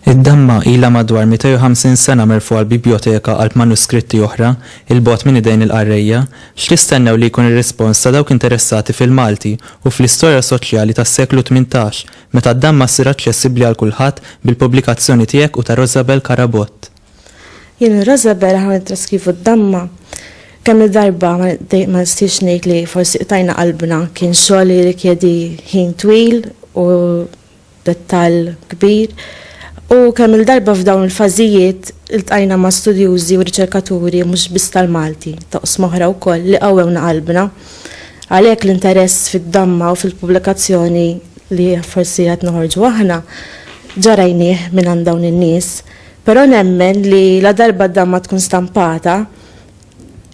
Id-damma ilha madwar 250 sena merfugħa l-bibjoteka qalb manuskritti oħra, 'il bogħod minn idejn il-qarrejja. X'tistennew li jkun ir-rispons ta' dawk interessati fil-Malti u fl-istorja soċjali tas-seklu tmintax? Meta d-damma ssir aċċessibbli għal kulħadd bil-pubblikazzjoni tiegħek u ta' Rosabel Carabott. Jien u Rosabel aħna nittraskrivu d-damma. Kemm-il darba ma nistiex ngħid li forsi qtajna qalbna, kien xogħol li jirrikjedi ħin twil u dettall kbir. U kemm-il darba f'dawn il-fażijiet iltqajna ma' studjużi u riċerkaturi mhux biss tal-Malti, t'oqsma oħra wkoll, li qawwewna qalbna. Għalhekk l-interess fid-damma u fil-pubblikazzjoni li forsi qed noħorġu aħna ġa rajnieh mingħand dawn in-nies, però nemmen li ladarba d-damma tkun stampata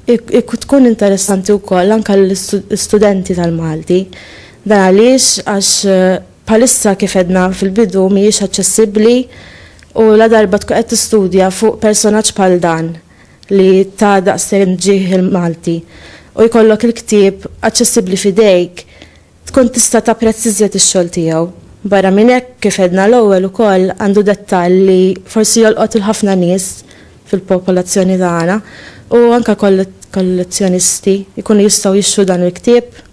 tkun interessanti wkoll anke għall-istudenti tal-Malti. Dan għaliex għax bħalissa kif għedna fil-bidu mhijiex aċċessibbli u ladarba tkun qed tistudja fuq personaġġ bħal dan, li ta daqsxejn ġieħ il-Malti u jkollok il-ktieb aċċessibbli f'idejk tkun tista' tapprezz iżjed ix-xogħol tiegħu. Barra minn hekk, kif għedna l-ewwel ukoll għandu dettall li forsi jolqot 'il ħafna nies fil-popolazzjoni tagħna u anke kollezzjonisti jkunu jistgħu jixtru dan il-ktieb.